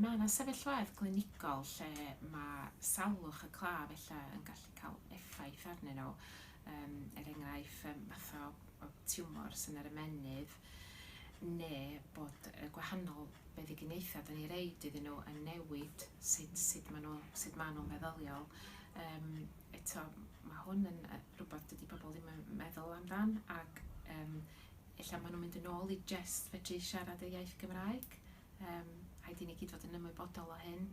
Mae yna sefyllfaoedd glinigol lle mae salwch y claf ella yn gallu cael effaith arnyn nhw, er enghraifft fath o tiwmors yn yr ymennydd neu bod y gwahanol feddyginiaethau dan ni'n roid iddyn nhw yn newid sut sut maen nhw sut maen nhw'n feddyliol. Yym eto mae hwn yn rhywbeth dydy pobl ddim yn meddwl amdan ac yym Ella maen nhw'n mynd yn ôl i jest fedru siarad y iaith Gymraeg. Yym, rhaid i ni gyd fod yn ymwybodol o hyn.